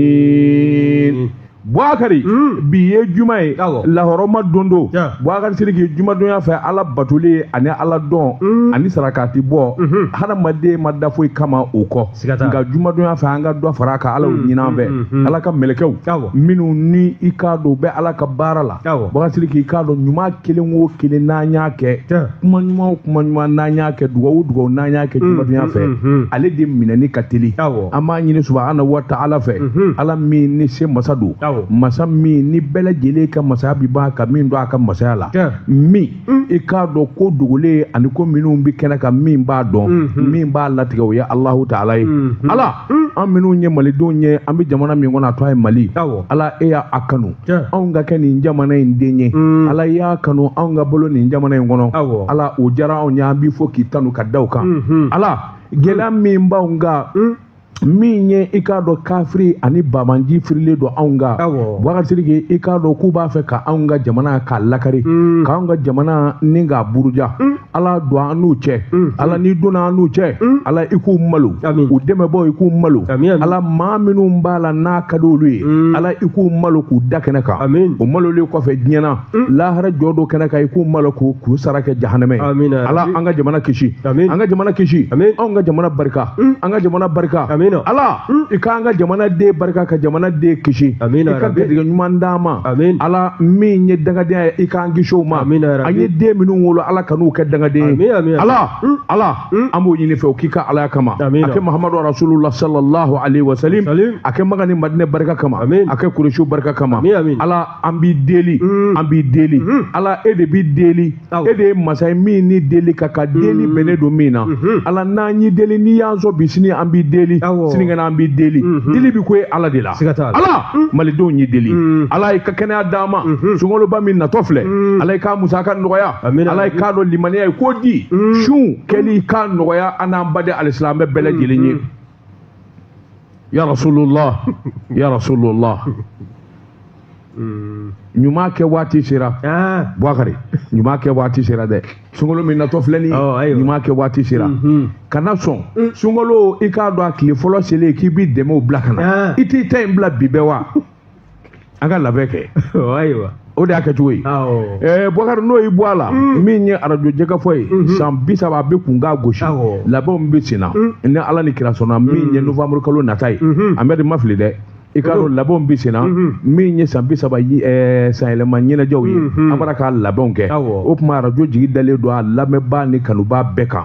amin buakari bi ye juma ye Awɔ. lahɔrɔma don don Ja. buakari siriki jumadonya fɛ ala batoli ani ala dɔn ani sarakati bɔ hadamaden ma da foyi kama o kɔ Siga t'a la. nka jumadonya fɛ an ka dɔ fara a kan ala y'o ɲini an fɛ ala ka mɛlɛkɛw Awɔ. minnu ni i k'a dɔn u bɛ ala ka baara la buakari siriki i k'a dɔn ɲuman kelen o kelen n'an y'a kɛ kuma ɲuman o kuma ɲuman n'an y'a kɛ dugawu o dugawu n'an y'a kɛ jumadonya mm, fɛ mm, mm, ale de minɛni ka teli an b'a ɲini subahana wa taala fɛ mm-hmm. ala min ni se masa don masa min ni bɛɛ lajɛlen ka masaya bi ban ka min to a ka masaya la min Mm. i k'a dɔn ko dogolen ani ko minnu bɛ kɛnɛ kan min b'a dɔn mm-hmm. min b'a latigɛ o ye alahu taala ye mm-hmm. ala mm. an minnu ye malidenw ye an bɛ jamana min kɔnɔ a tɔgɔ ye mali ala e y'a kanu anw ka kɛ nin jamana in den ye mm. ala y'a kanu anw ka wolo nin jamana in kɔnɔ ala o diyara anw ye an b'i fo k'i tanu ka da o kan mm-hmm. ala gɛlɛya min b'anw kan min ye i k'a dɔn kafiri ani banbaanci firilen don anw kan buakari siriki i k'a dɔn k'u b'a fɛ ka anw ka jamana k'a lakari mm. k'an ka jamana nin k'a buruja mm. ala don an n'u cɛ mm. ala n'i donna an n'u cɛ ala i k'u malo u dɛmɛbaaw i k'u malo ala maa minnu b'a la n'a ka di olu ye ala i k'u malo k'u da kɛnɛ kan o malolen kɔfɛ diɲɛ na lahara jɔ don kɛnɛ kan i k'u malo k'u sara kɛ jahanamɛ ala an ka jamana kisi an ka jamana kisi anw ka jamana barika an ka jamana barika ala i k'an ka jamana den barika ka jamana den kisi i ka garijɛgɛ ɲuman d'an ma ala min ye dangadenya ye i k'an kisi o ma an ye den minnu wolo ala kan'u kɛ dangaden ye ala ala an b'o ɲini i fɛ o k'i ka alaya kama a kɛ mahamadu rasulula salallahu alaihi wasalam a kɛ maka ni madina barika kama a kɛ kurusiw barika kama ala an b'i deli mm. an b'i deli mm-hmm. ala e de bi deli e de ye masa ye min ni deli ka kan deli mm. bɛnnen don min na mm-hmm. ala n'an y'i deli n'i y'an sɔn bi sini an b'i deli sinikɛnɛ an b'i deli mm-hmm. deli bi ko ye ala de la ala mm. malidenw y'i deli ala i ka kɛnɛya d'an ma sunkaloba min natɔ filɛ ala i k'a musaka nɔgɔya ala i k'a dɔn limaniya i k'o di sun kɛli i k'a nɔgɔya an n'an baden alisilamɛ bɛɛ lajɛlen ye ya rasulullah ya rasulullah hmm. ɲuman kɛ waati sera ah. buwakari ɲuman kɛ waati sera dɛ sunkalo min natɔ filɛ nin oh, ɲuman kɛ waati sera mm-hmm. kana sɔn mm. sunkalo i k'a dɔn a tile fɔlɔ selen k'i b'i dɛmɛ o bila ka na ah. i t'i ta in bila bi bɛɛ wa an ka labɛn kɛ o de y'a kɛcogo ye buakari n'o ye bɔ a la mm. min ye arajo jɛkafɔ ye mm-hmm. san bi saba a bɛ kun k'a gosi labɛnw bɛ sen na mm. ni ala ni kira sɔnna min mm. ye nowanburu kalo nata ye mm-hmm. an bɛ de ma fili dɛ i k'a dɔn labɛnw bɛ sen na mm-hmm. min ye san bi saba sanyɛlɛma ɲɛnajɛw ye an b'a la ka labɛnw kɛ o tuma arajo jigi dalen don a lamɛnbaa ni kanubaa bɛɛ kan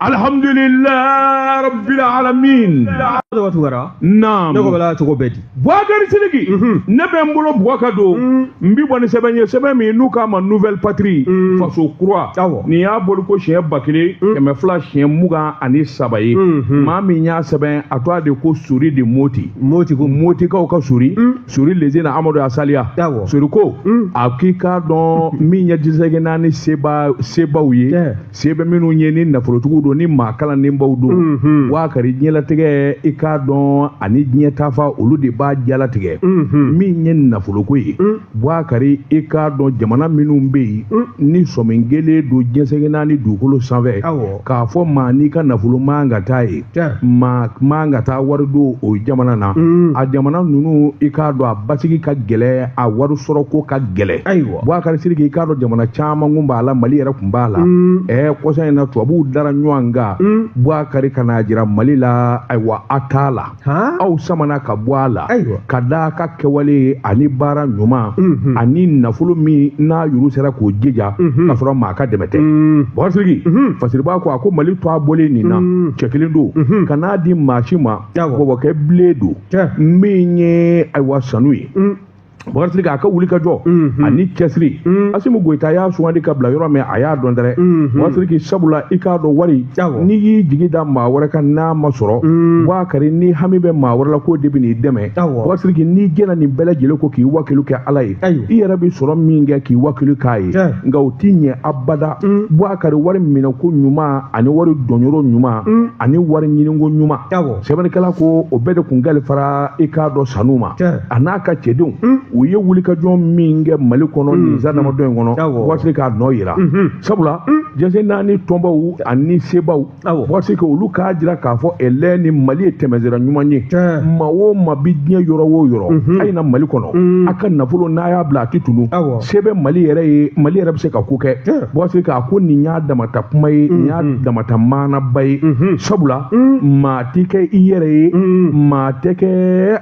alhamdulillah rabbil alamin tɔgɔ tugara naam ne ko bala cogo bɛɛ di buwakari sidiki ne bɛ n bolo buwa ka don n bi bɔ ni sɛbɛn ye sɛbɛn min n'u k'a ma nouvelle patrie faso kura Awɔ. nin y'a bɔli ko siɲɛ ba kelen kɛmɛ fila siɲɛ mugan ani saba ye maa min y'a sɛbɛn a tɔgɔ de ko sori de moti motikaw ka sori sori leze na amadu asaliya Awɔ. sori ko a k'i k'a dɔn min ye diɲɛ seleke naani sebaw ye Tiɲɛ. se bɛ minnu ye ni nafolotigiw don ni maa kalannenbaw don mhm. buwakari diɲɛlatigɛ i k'a dɔn ani diɲɛ tafa olu de b'a jalatigɛ mhm. min ye nafoloko ye mm. buwakari i k'a dɔn jamana minnu bɛ yen mm. ni sɔmin kelen don diɲɛ seleke naani dugukolo sanfɛ k'a fɔ maa n'i ka nafolo man ka taa yen maa man ka taa wari don o jamana na mm. a jamana ninnu i k'a dɔn a basigi ka gɛlɛ a wari sɔrɔ ko ka gɛlɛ Buwakari sidiki i k'a dɔn jamana caman kun b'a la mali yɛrɛ kun b'a la ɛ kɔsa in na tubabuw dara ɲɔgɔn kan buwakari ka n'a jira mali la ayiwa a t'a la aw samana ka bɔ a la ka da a ka kɛwale ani baara ɲuman ani nafolo min n'a yɛrɛ sera k'o jija ka sɔrɔ maa ka dɛmɛ tɛ buwakari sidiki fasiri b'a ko a ko mali to a bɔlen nin na cɛ kelen don ka n'a di maa si ma bɔbɔkɛ bilen don min ye ayiwa sanu ye Buwakari sidiki a ka wuli ka jɔ ani cɛsiri asimi goyita y'a sugandi ka bila yɔrɔ min a y'a dɔn dɛrɛ buwakari sidiki sabula i k'a dɔn wari n'i y'i jigi da maa wɛrɛ kan n'a ma sɔrɔ buwakari n'i hami bɛ maa wɛrɛ la k'o de bɛ n'i dɛmɛ buwakari sidiki n'i jɛnna nin bɛɛ lajɛlen kɔ k'i wakilu kɛ ala ye i yɛrɛ bɛ sɔrɔ min kɛ k'i wakilu k'a ye nka o t'i ɲɛ abada buwakari wari minɛko ɲuman ani wari donyɔrɔ ɲuman ani wari ɲiniko ɲuman sɛbɛnnikɛla ko o bɛɛ de kun kalifara i k'a dɔn sanu ma a n'a ka cɛdenw u ye wulikajɔ min kɛ mali kɔnɔ nin san damadɔ in kɔnɔ buwakari sidiki a nɔ yera sabula diɲɛ seleke naani tɔnbaw ani sebaw buwakari sidiki olu k'a jira k'a fɔ ɛlɛ ni mali ye tɛmɛsira ɲuman ye maa o maa bi diɲɛ yɔrɔ o yɔrɔ a ye na mali kɔnɔ a ka nafolo n'a y'a bila a tɛ tunun se bɛ mali yɛrɛ ye mali yɛrɛ bɛ se ka ko kɛ buwakari sidiki a ko nin y'a dama ta kuma ye nin y'a dama ta maanaba ye sabula mm. maa tɛ kɛ i yɛrɛ ye mm. maa tɛ kɛ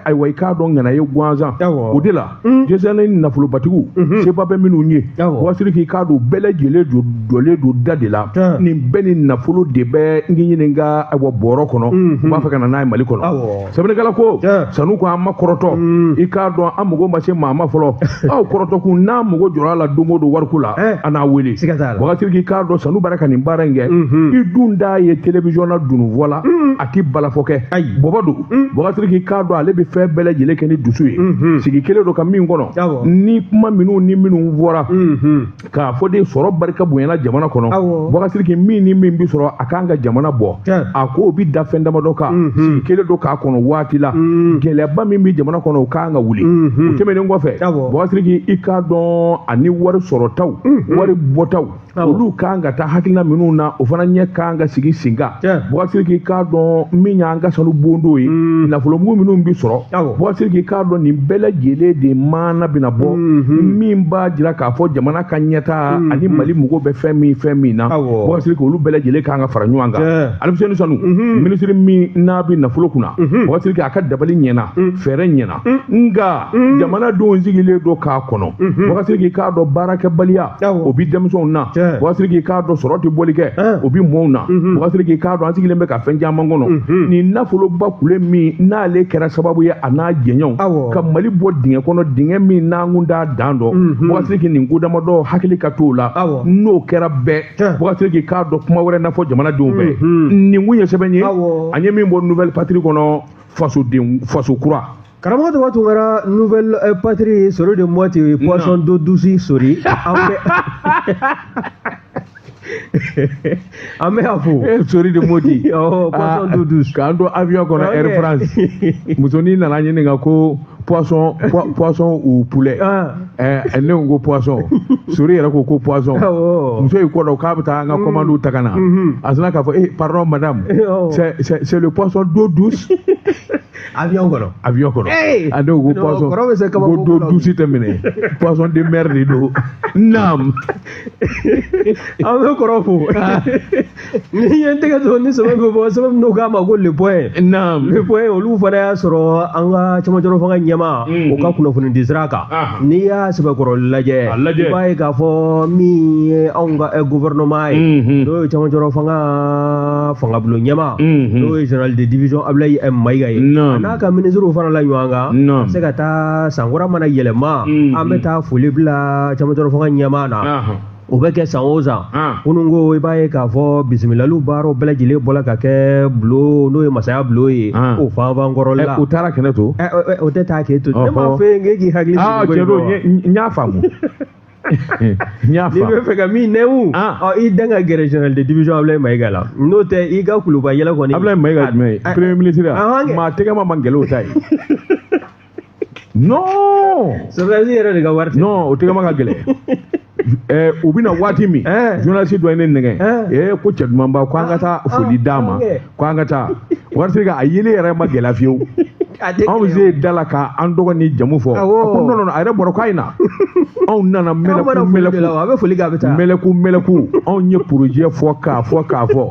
ayiwa i k'a dɔn ŋana ye gansan o de la mm. diɲɛ seleke naani nafolobatigiw mm-hmm. seba bɛ minnu ye buwakari sidiki i k'a dɔn bɛɛ lajɛlen jɔlen don da de la nin bɛɛ ni nafolo de bɛ n k'i ɲininka ayiwa bɔrɔ kɔnɔ mm-hmm. u b'a fɛ ka na n'a ye mali kɔnɔ sɛbɛnnikɛla ko sanu ko an ma kɔrɔtɔ mm. i k'a dɔn an mago ma se maa ma fɔlɔ aw kɔrɔtɔ kun n'a mago jɔra a la don o don wariko la eh. a n'a wele buwakari sidiki i k'a dɔn sanu bara ka nin baara in kɛ mm-hmm. i dun t'a ye telewisɔn na dununfɔ la mm. a ti balafɔ kɛ bɔbɔ don mm. buwakari sidiki i k'a dɔn ale bɛ fɛn bɛɛ lajɛlen kɛ ni dusu ye mm-hmm. sigi kelen don ka min kɔnɔ ni kuma minnu ni minnu fɔra mm-hmm. k'a fɔ de sɔrɔ barika bonyana jamana kɔnɔ Bakari Siriki min ni min bi sɔrɔ a kan ka jamana bɔ a k'o bi da fɛn damadɔ kan mhm. sigi kelen don k'a kɔnɔ waati la mhm. gɛlɛyaba min bi jamana kɔnɔ o kan ka wuli mhm. o tɛmɛnen kɔfɛ Bakari Siriki i k'a dɔn ani wari sɔrɔtaw wari bɔtaw olu kan ka taa hakilina minnu na o fana ɲɛ kan ka sigi sen kan Bakari Siriki k'a dɔn min y'an ka sanu bondo ye nafolomugu minnu bi sɔrɔ Bakari Siriki k'a dɔn nin bɛɛ lajɛlen de maana bɛna bɔ min b'a jira k'a fɔ jamana ka ɲɛtaa mm, ani mm. mali mɔgɔw bɛ fɛn min fɛn min na Bakari Siriki olu bɛɛ lajɛlen kan ka fara ɲɔgɔn kan Alifuseni Sanu mm-hmm. minisiri min n'a bɛ nafolo kunna mm-hmm. Bakari Siriki a ka dabali ɲɛna mm. fɛɛrɛ ɲɛna nka jamana denw sigilen don k'a kɔnɔ mm-hmm. Bakari Siriki k'a dɔn baarakɛbaliya o bi denmisɛnw na Bakari Siriki k'a dɔn sɔrɔ tɛ boli kɛ eh. o bi mɔɔw na Bakari Siriki k'a dɔn an sigilen bɛ ka fɛn caman kɔnɔ nin nafoloba kule min n'ale kɛra sababu ye a n'a jɛɲɔgɔnw ka mali bɔ dingɛ kɔnɔ dingɛ min n'an kun t'a dan dɔn Bakari Siriki nin ko damadɔ hakili ka t'o la n'o kɛra bɛɛ Bakari Siriki k'a dɔn kuma wɛrɛ na fɔ jamanadenw fɛ nin kun ye sɛbɛn ye an ye min bɔ nouvelle patrie kɔnɔ fasoden faso kura karamɔgɔ tɔgɔ tun kɛra nouvelle euh, patrie sori de moti poisson d'eau douce sori an bɛ a fo eh, sori de moti oh, ah, k'an to avion kɔnɔ air france musonin nana ɲininka ko poisson poisson ou poulet ah. eh, eh, ne ko ko poisson sori yɛrɛ ko ko poisson oh. muso y'i kɔdon k'a bɛ taa an ka mm. commande ta ka na mm-hmm. a sinna k'a fɔ eh pardon madame oh. c'est c'est le poisson d'eau douce avion kɔnɔ avion kɔnɔ a ne ko ko poisson ko d'eau douce tɛ minɛ poisson de mer de don naam an bɛ kɔrɔ fo ah. ne ye n tɛgɛ don ni sɛbɛn bɛ bɔ sɛbɛn min k'a ma ko le point le point olu fana y'a sɔrɔ an ka camancɛrɔ fanga ɲɛmaa mm-hmm. o ka kunnafoni di sira kan ah. n'i y'a sɛbɛkɔrɔ lajɛ i b'a ye k'a fɔ min ye anw ka eh, gouvernement ye mm-hmm. n'o ye camancɛrɔ fanga fangabulon ɲɛmaa mm-hmm. n'o ye general de division Ablaye M Mayiga ye a n'a ka ministre farala ɲɔgɔn kan a bɛ se ka taa san kura mana yɛlɛma an bɛ taa foli bila camancɛrɔ fanga ɲɛmaa na o bɛ kɛ san o san kunun ko i b'a ye k'a fɔ bisimilaliw baaraw bɛɛ lajɛlen bɔra ka kɛ bulon n'o ye masaya bulon ye o fanfan kɔrɔ la u taara kɛnɛ to o tɛ taa k'e to ne m'a fɔ e k'i hakili sigi n y'a faamu n'i bɛ fɛ ka min nɛmu i da ka gɛrɛ general de division Ablaye Mayiga la n'o tɛ i ka kuluba yɛlɛ kɔni Ablaye Mayiga jumɛn ye premier ministre maa tɛgɛ ma man gɛlɛn o ta ye non sɔrɔdasi yɛrɛ de ka wari tɛ non o tɛgɛma ka gɛlɛn ɛɛ u bɛna waati min journaliste dɔ ye ne nɛgɛn ɛɛ ko cɛ duman ba ko an ka taa foli d'a ma ko an ka taa waritigi a yeli yɛrɛ ma gɛlɛya fewu anw se da la ka an tɔgɔ ni jamu fɔ a ko non non a yɛrɛ bɔra k'a ye na anw nana mɛlɛku mɛlɛku a bɛ foli kɛ a bɛ taa mɛlɛku mɛlɛku anw ye projet fɔ k'a fɔ k'a fɔ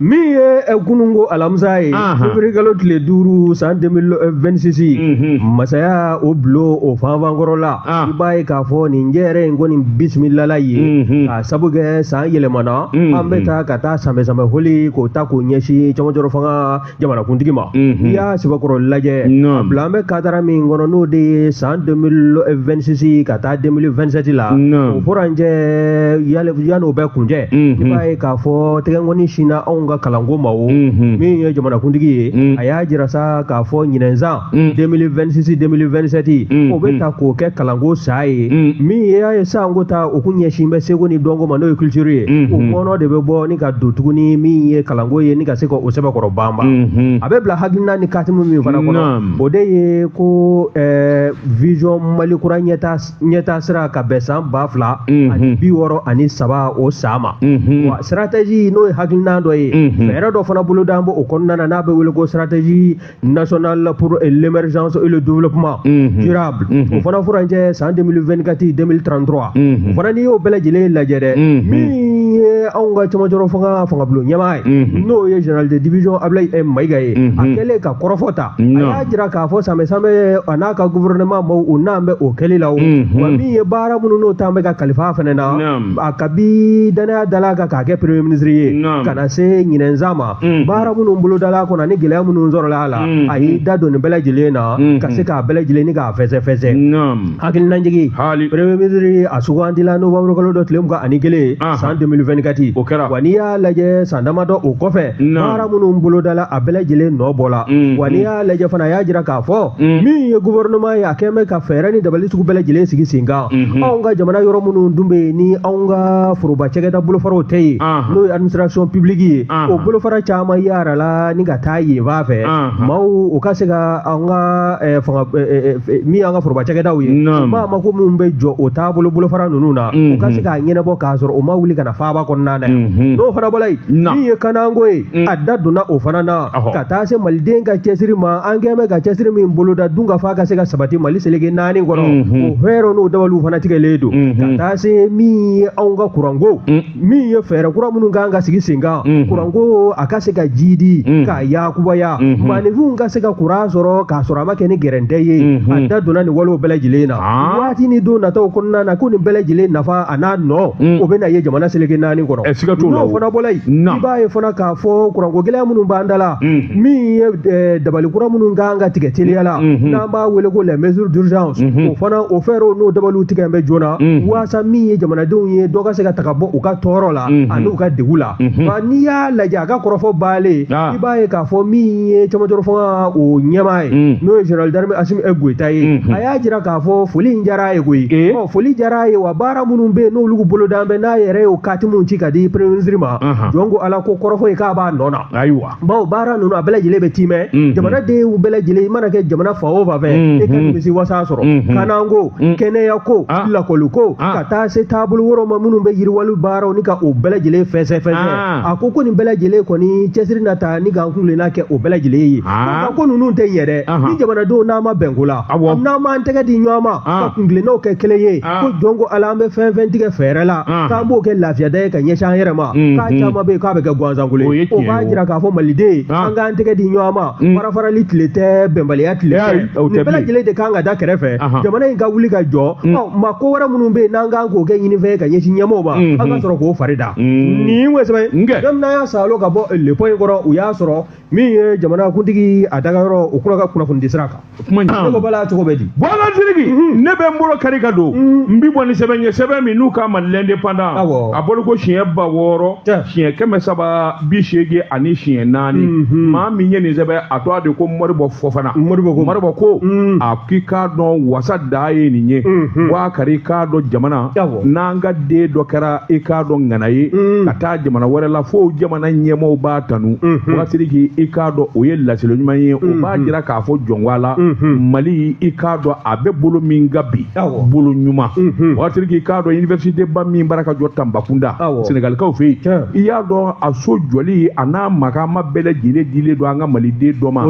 min ye eh, kununko alamisa ye février kalo tile duuru san 2026 mhm. masaya o bulon o fanfankɔrɔla ah. i b'a ye k'a fɔ nin jɛrɛ in kɔni bisimilala ye mhm. k'a sabu kɛ san yɛlɛmana mhm. an bɛ taa ka taa sanbɛsanbɛ foli k'o ta k'o ɲɛsin cɛmancɛrɔ fanga jamanakuntigi ma n'i y'a sɛbɛkɔrɔ lajɛ a bila an bɛ kadara min kɔnɔ n'o de ye san 2026 ka taa 2027 la o furancɛ yan'o bɛɛ kuncɛ i b'a ye k'a fɔ tɛgɛnkɔni sinna anw ka kalanko ma o min ye jamanakuntigi ye a y'a jira sa k'a fɔ ɲinɛn san 2026 2027 o bɛ ta k'o kɛ kalanko san ye min y'a ye san kɔ ta o kun ɲɛsin bɛ seko ni dɔnko ma n'o ye culture ye o kɔnɔ de bɛ bɔ ni ka don tuguni min ye kalanko ye ni ka se ka o sɛbɛkɔrɔ banban a bɛ bila hakilina ni katimu min fana kɔnɔ o de ye ko vision mali kura ɲɛta ɲɛtaa sira ka bɛn san ba fila ani bi wɔɔrɔ ani saba o san ma wa stratégie n'o ye hakilina dɔ ye fɛɛrɛ dɔ fana bolodalen b'o kɔnɔna na n'a bɛ wele ko stratégie nationale pour l'émergence et le développement durable o fana furancɛ san 2024 2033 o fana n'i y'o bɛɛ lajɛlen lajɛ dɛ min ye anw ka cɛmancɛrɔ fanga fangabulon ɲɛmaa ye n'o ye général de division Abulayi Mayiga ye a kɛlen ka kɔrɔfɔ ta jira k'a fɔ sanbɛsanbɛ a n'a ka gouvernement maaw u nalen bɛ o kɛli la o mhm. wa min ye baara minnu n'o talen bɛ ka kalifa fɛnɛ na a kabi danaya dala a kan k'a kɛ premier ministre ye ka na se ɲinɛn san ma mhm. baara minnu bolodala kɔnɔ ani gɛlɛya minnu sɔrɔla a la mhm. a y'i da don nin bɛɛ lajɛlen na ka se k'a bɛɛ lajɛlen ni k'a fɛsɛfɛsɛ hakilinajigi premier ministre a sugandila novembre kalo dɔ tile mugan ani kelen san 2024 wa n'i y'a lajɛ san damadɔ o kɔfɛ baara minnu bolodala a bɛɛ lajɛlen nɔ bɔla mm-hmm. wa n'i y'a lajɛ fana a y'a jira k'a fɔ mm-hmm. min ye gouvernement ye a kɛlen bɛ ka fɛɛrɛ ni dabali sugu bɛɛ lajɛlen sigi sen kan mm-hmm. anw ka jamana yɔrɔ minnu dun bɛ yen ni anw ka foroba cɛkɛda bolofaraw tɛ yen uh-huh. n'o ye administration publique ye uh-huh. o bolofara caman yaarala ni ka taa yen fan fɛ uh-huh. maaw u ka se ka an ka eh, fanga eh, eh, min y'an ka foroba cɛkɛdaw ye maa mako minnu bɛ jɔ o taabolo bolofara ninnu na u ka se k'a ɲɛnabɔ k'a sɔrɔ u ma wuli ka na faaba kɔnɔna na yan n'o fana bɔra yen min ye kananko ye a da donna o fana na ka taa se maliden ka cɛsiri ma an kɛn bɛ ka cɛsiri min boloda dunkafa ka se ka sabati mali seleke naani kɔnɔ o fɛɛrɛ n'o dabaliw fana tigɛlen don ka taa se min ye anw ka kuranko min ye fɛɛrɛ kura minnu kan ka sigi sen kan kuranko a ka se ka jidi ka yakubaya maaninfinw ka se ka kuran sɔrɔ k'a sɔrɔ a ma kɛ ni gɛrɛntɛ ye a da donna nin walew bɛɛ lajɛlen na waati ni don nataw kɔnɔna na ko nin bɛɛ lajɛlen nafa a n'a nɔ mm. o bɛna ye jamana seleke naani kɔnɔ eh, siga t'o la n'o fana bɔla yen i b'a ye fana k'a fɔ kuranko gɛlɛya minnu b'an da la mm. min ye eh, dabali kura minnu kan ka tigɛ teliya la mm-hmm. n'an b'a wele ko les mesures d'urgence mm-hmm. o fana o fɛɛrɛw n'o dabaliw tigɛ bɛ joona mm-hmm. waasa min ye jamanadenw ye dɔ ka se ka taga bɔ u ka tɔɔrɔ la ani u ka degu la nka n'i y'a lajɛ a ka kɔrɔfɔ baalen ah. i b'a ye k'a fɔ min ye camancɛrɔ fanga o ɲɛmaa ye mm. n'o ye général d'armée asimi goyita ye a y'a jira k'a fɔ foli in diyara a ye koyi eh? foli diyara a ye wa baara minnu bɛ yen n'olu bolodalen bɛ n'a yɛrɛ y'o kati minnu ci ka di premier ministre ma jɔn ko ala ko kɔrɔfɔ ye k'a b'a nɔ na ayiwa bawo baara ninnu a bɛɛ lajɛlen bɛ tiimɛ jamanadenw bɛɛ lajɛlen i mana kɛ jamana fan o fan fɛ e ka nimisiwasa sɔrɔ kananko kɛnɛyako lakɔliko ka taa se taabolo wɛrɛw ma minnu bɛ yiriwali baaraw ni ka o bɛɛ lajɛlen fɛsɛfɛsɛ a ko ko nin bɛɛ lajɛlen kɔni cɛsiri na taa ni k'an kuntilenna kɛ o bɛɛ lajɛlen ye ko ninnu tɛ ɲɛ dɛ ni jamanadenw n'an ma bɛn ko la awɔ n'an m'an tɛgɛ di ɲɔgɔn ma ah. ka kuntilennaw kɛ kelen ye ah. ko jɔn ko ala an bɛ fɛn fɛn tigɛ fɛɛrɛ la ah. k'an b'o kɛ lafiyada ye ka ɲɛsin an yɛrɛ ma mm-hmm. k'a caman bɛ yen k'a bɛ kɛ gansankolo ye o b'a jira k'a fɔ maliden an k'an tɛgɛ di ɲɔgɔn ma mm. farafarali tile tɛ bɛnbaliya tile tɛ nin bɛɛ lajɛlen de kan ka da kɛrɛfɛ jamana in ka wuli ka jɔ mm. mako wɛrɛ minnu bɛ yen n'an kan k'o kɛ ɲininfɛn ye ka ɲɛsin ɲɛmɔgɔw ma mm-hmm. an ka sɔrɔ k'o fari da mm. nin ye wɛsɛbɛ ye n'an y'a salo ka bɔ le point kɔrɔ u y'a sɔrɔ min ye jamanakuntigi a dagayɔrɔ o kura ka kunnafoni di sira kan kuma ne ko bala cogo bɛ di bɔnna siriki ne bɛ n bolo kari ka don n bi bɔ ni sɛbɛn ye sɛbɛn min n'u k'a ma l'indépendant Awɔ. a bolo ko siɲɛ ba wɔɔrɔ Tiɲɛ. siɲɛ kɛmɛ saba bi seegin ani siɲɛ naani maa min ye nin sɛbɛn a tɔgɔ de ko mɔribɔ fɔfana Moribo ko- mɔribɔ ko Mm. a k'i k'a dɔn wasa da ye nin ye Mhm. wa kari k'a dɔn jamana Awɔ. n'an ka den dɔ kɛra i k'a dɔn ŋana ye Mm. ka taa jamana wɛrɛ la fo jamana fana ɲɛmɔgɔw b'a tanu wa siriki i k'a dɔn o ye laseli ɲuman ye o b'a jira k'a fɔ jɔn ko ala mali i k'a dɔn a bɛ bolo min ka bi bolo ɲuman wa siriki i k'a dɔn université ba min b'a ra ka jɔ tanbakunda sɛnɛgalikaw fɛ yen i y'a dɔn a so jɔli a n'a makan ma bɛɛ lajɛlen dilen don an ka maliden dɔ ma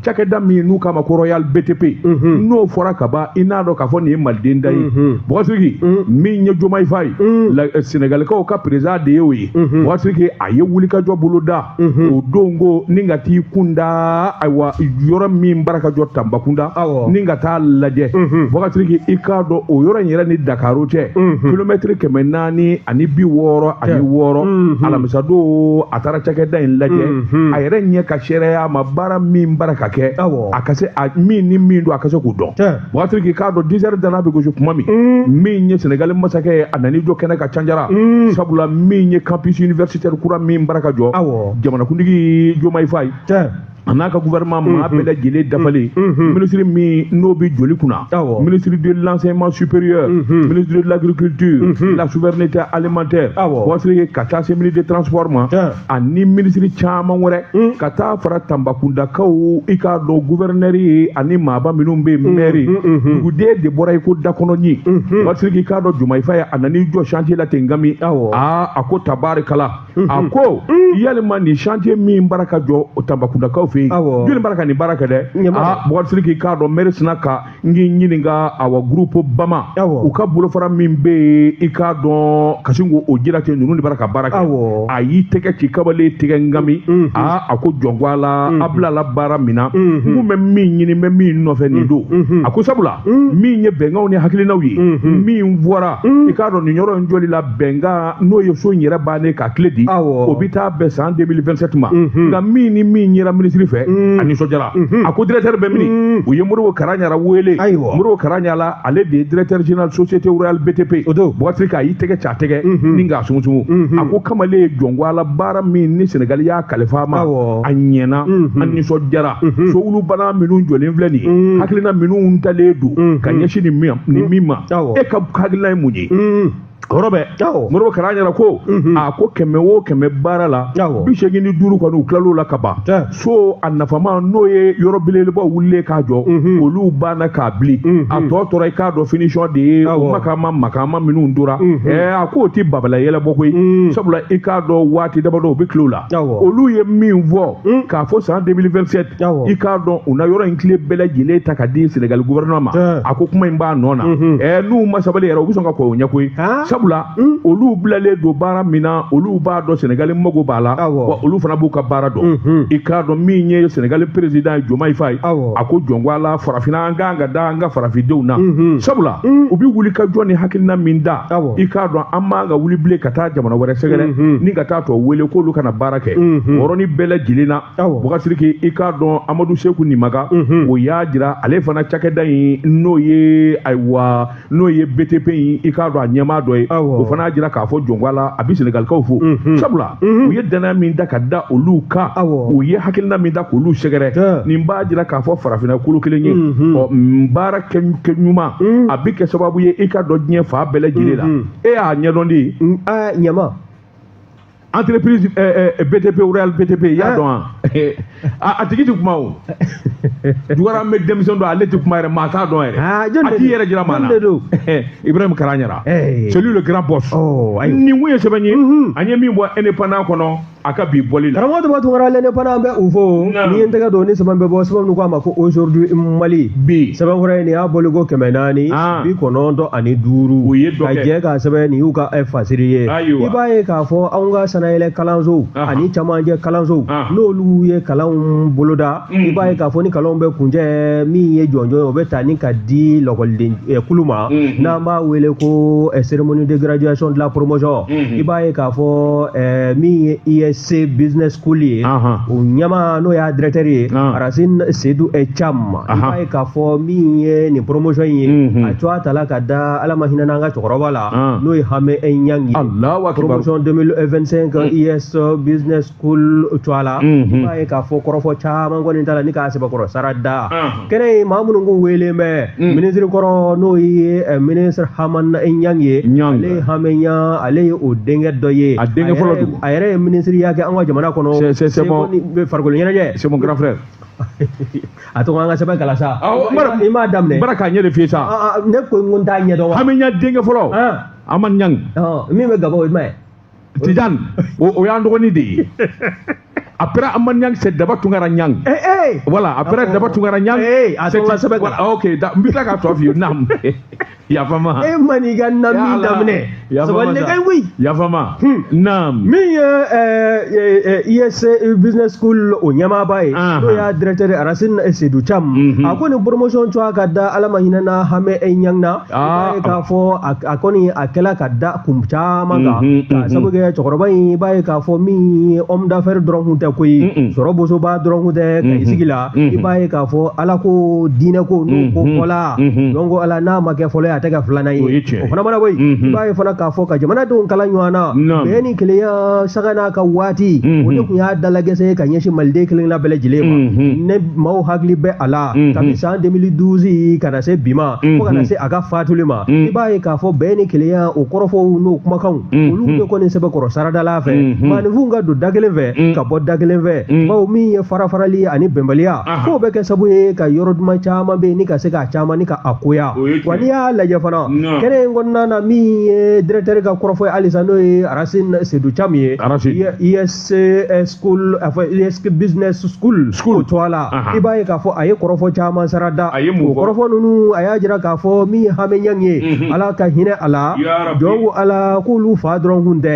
cakɛda min ye n'u k'a ma ko royal btp n'o fɔra ka ban i n'a dɔn k'a fɔ nin ye maliden da ye Boubacar Sidiki min ye Diomaye Faye la- eh, senegalikaw ka président de ye o ye Boubacar Sidiki a ye wulikajɔ bolo da o don ko ni ka t'i kun da ayiwa yɔrɔ min bara ka jɔ Tambacounda Awɔ. ni ka taa lajɛ Boubacar Sidiki i k'a dɔn o yɔrɔ in yɛrɛ ni dakaro cɛ kilomɛtiri kɛmɛ naani ani bi wɔɔrɔ ani wɔɔrɔ alamisadon a taara cakɛda in lajɛ mhm. a yɛrɛ ɲɛ ka seereya ma baara min bara ka kɛ a ka se min ni min don a ka se k'u dɔn Boubacar Sidiki k'a dɔn dix heures dana bɛ gosi kuma min mm. min ye senegali masakɛ ye a nan'i jɔ kɛnɛ kan canjara mm. sabula min ye campus universitaire kura min bara ka jɔ jamanakuntigi Diomaye Faye a n'a ka gouvernement maa bɛɛ lajɛlen dafalen minisiri min n'o bɛ jɔli kunna ministre de l'enseignement supérieur ministre de l'agriculture de la souveraineté alimentaire Boubacar Sidiki ka taa se ministre de transport ma ani minisiri caman wɛrɛ ka taa fara Tambacoundakaw i k'a dɔn gouverneur ye ani maaba minnu bɛ yen maire duguden de bɔra i ko dakɔnɔɲin Boubacar Sidiki i k'a dɔn Diomaye Faye a nan'i jɔ chantier la ten n kami a ko tabarikala a ko yalima nin chantier min bara ka jɔ Tambacoundakaw fɛ yen Awɔ. jɔni bara ka nin baara kɛ dɛ Ɲɛma dɛ. aa Boubacar Sidiki k'a dɔn maire sina ka n k'i ɲininka awa groupe bama Awɔ. u ka bolofara min bɛ yen i k'a dɔn ka sin k'o jira ten ninnu de bara ka baara kɛ Awɔ. a y'i tɛgɛ ci kamalen tɛgɛ n kami Mhm. aa a ko jɔn ko Ala a bilala baara min na n Mhm. kun bɛ min ɲini n bɛ min nɔfɛ nin don Mhm. a ko sabula min ye bɛnkanw ni hakilinaw ye Mhm. min fɔra i k'a dɔn nin yɔrɔ in jɔli la bɛnkan n'o ye so in yɛrɛ bannen k'a kile di o bɛ taa bɛn san 2027 ma nka min ni min yera minisiri fɛ a nisɔndiyara a ko directeur bɛ min u ye Modibo Karagnara wele Modibo Karagnara ale de ye directeur général société royale BTP Boubacar Sidiki a y'i tɛgɛ ci a tɛgɛ ni k'a sumusumu a ko kamalen ye jɔn ko Ala baara min ni Senegali y'a kalifa a ma a ɲɛna a nisɔndiyara so olu banna minnu jɔlen filɛ nin ye hakilina minnu talen don ka ɲɛsin nin min ma e ka hakilina ye mun ye ye hɔrɔ bɛ Modibo Karagnara ko a ko kɛmɛ o kɛmɛ baara la bi seegin ni duuru kɔni u tilal'o la ka ban so a nafama n'o ye yɔrɔ belebelebaw wulilen k'a jɔ olu banna k'a bili a tɔ tora i k'a dɔn finition de ye u makama makama minnu tora a k'o tɛ babala yɛlɛbɔ koyi sabula i k'a dɔn waati damadɔ u bɛ tila o la olu ye min fɔ Hmm. k'a fɔ san 2027 i k'a dɔn u na yɔrɔ in kile bɛɛ lajɛlen ta ka di Sénégal gouvernement ma eh. a ko kuma in b'a nɔ na mhm. eh, n'u ma sabali yɛrɛ u bɛ sɔn ka kɔn o ɲɛ koyi sabula hmm. olu bilalen don baara min na olu b'a dɔn Sénégal mago b'a la wa olu fana b'u ka baara dɔn mhm. i k'a dɔn min ye Sénégal président ye Diomaye Faye a ko jɔn ko Ala farafinna an kan ka da an ka farafindenw na mhm. sabula hmm. u bɛ wuli ka jɔ ni hakilina min da i k'a dɔn an man ka wuli bilen ka taa jamana wɛrɛ sɛgɛrɛ ni ka taa tɔw wele k'olu ka na baara kɛ mhm. yɔrɔ nin bɛɛ lajɛlen na bukasiriki i k'a dɔn amadu seku nimaga mhm. o y'a jira ale fana cakɛda in n'o ye ayiwa n'o ye btp in i k'a dɔn a ɲɛmaa dɔ ye o fana y'a jira k'a fɔ jɔn ko ala a bɛ senegalikaw fo mhm. sabula u ye dannaya min da ka da olu kan u ye hakilina min da k'olu sɛgɛrɛ nin b'a jira k'a fɔ farafinna kolo kelen ye ɔ baara kɛ ɲuman a bɛ kɛ sababu ye i ka dɔn diɲɛ fan bɛɛ lajɛlen la e y'a ɲɛdɔn de ɲɛma entreprise ɛɛ eh, eh, BTP Royal BTP i y'a dɔn wa a tigi ti kuma o jugaramɛ denmisɛn don ale ti kuma yɛrɛ maa t'a dɔn yɛrɛ ah, a t'i yɛrɛ jira maa na Ibrahim Karaɲara eh. celui le grand boss oh, nin kun ye sɛbɛn ye mhm. an ye min bɔ indépendant kɔnɔ a ka bi bɔli la karamɔgɔ daba tungara l'indépendant an bɛ u fo n'i ye n tɛgɛ don ni sɛbɛn bɛ bɔ sɛbɛn min ko a ma ko aujourd'hui Mali bi sɛbɛn wɛrɛ ye nin y'a bɔli ko kɛmɛ naani ah. bi kɔnɔntɔn ani duuru ka jɛ k'a sɛbɛn nin y'u ka fasiri ye ah. ayiwa i b'a ye k'a fɔ anw ka sanayɛlɛ kalansow ani camancɛ kalansow n'olu ye kalanw boloda mm. i b'a ye k'a fɔ ni kalanw bɛ kuncɛ min ye jɔnjɔn ye o bɛ ta ni ka di lakɔliden eh, kulu ma mm-hmm. n'an b'a wele ko eh, cérémonie de graduation de la promotion mm-hmm. i b'a ye k'a fɔ eh, min ye ISC business school ye o ɲɛmaa n'o y'a directeur ye Arasine Seydou Thiam i b'a ye k'a fɔ min ye nin promotion in ye mm-hmm. a tɔgɔ tala ka da Ala ma hinɛ n'an ka cɛkɔrɔba la Ah. n'o ye hame nyang ye Allahu akbar promotion 2025 mm. ISC uh, business school uh, tɔgɔ la mm-hmm. i b'a ye k'a fɔ kɔrɔfɔ caman kɔni tala ni ka sɛbɛkɔrɔ sara da ah. kɛnɛ ye maa minnu kun wele mɛ mm. ministre kɔrɔ n'o ye eh, ministre haman nyang ye ale ye hame nyang ale ye o denkɛ dɔ ye a denkɛ fɔlɔ a yɛrɛ ye ministreya kɛ an ka jamana kɔnɔ c'est c'est mon farikolo ɲɛnajɛ c'est mon grand frère a to an ka sɛbɛn kalan sa i m'a daminɛ bara k'a ɲɛ de f'i sa ne ko n ko n t'a ɲɛ dɔn wa hame ɲang denkɛ fɔlɔ haman ɲang min bɛ gaba o ye jumɛn ye tijan o y'an dɔgɔnin de ye après haman nyang c'est daba tungara nyang eh eh voilà après daba tungara nyang eh, ah, c'est ok mbita ka to fi nam yafa n ma e man'i ka naam daminɛ sabali ne ka wuli yafa n ma hmm. naam min ye ISC eh, eh, eh, business school o ɲɛmaaba ye n'o y'a directeur Arasini Sedu Cam mhm. a ko nin promotion tɔgɔ ka da Ala ma hinɛ na hame ɲang na i ah. b'a ye k'a fɔ a kɔni a kɛla ka da kun caman kan mhm, ka mhm. sabu kɛ cɛkɔrɔba in i b'a ye k'a fɔ min ye homme d'affaires dɔrɔn kun tɛ koyi sɔrɔ bosoba dɔrɔn kun tɛ ka i sigi la Mhm. i b'a ye k'a fɔ ala ko diinɛ ko n'o mhm. ko fɔla mhm. donc ala n'a ma kɛ fɔlɔ ye a tɛ kɛ filanan ye o fana mana bɔ yen i b'a ye fana k'a fɔ ka jamanadenw kala ɲɔgɔn na bɛɛ ni kelenya sanga n'a ka waati o de tun y'a dalagɛsɛ ye ka ɲɛsin maliden kelenna bɛɛ lajɛlen ma ne maaw hakili bɛ a la kabi san 2012 ka na se bi ma fo ka na se a ka faatuli ma i b'a ye k'a fɔ bɛɛ ni kelenya o kɔrɔfɔw n'o kumakanw Mm-hmm. olu bɛ kɔni sɛbɛkɔrɔ saradala fɛ mm-hmm. maanifinw ka don da kelen fɛ mm-hmm. ka bɔ da kelen fɛ bawo min ye farafarali ani bɛnbaliya k'o bɛ kɛ sabu ye ka yɔrɔ duman caman bɛ yen ni ka se k'a caman ni ka a koya wa n'i y'a lajɛ fana kɛnɛ in kɔnɔna na min ye directeur ka kɔrɔfɔ ye halisa n'o ye arasini sedu camu ye se eh, school enfin ISC business school tɔgɔ la i b'a ye k'a fɔ a ye kɔrɔfɔ caman sara da o kɔrɔfɔ ninnu a y'a jira k'a fɔ min ye hamɛ ɲang ye mhm. ala ka hinɛ a la jɔn ko ala k'olu fa dɔrɔn kun tɛ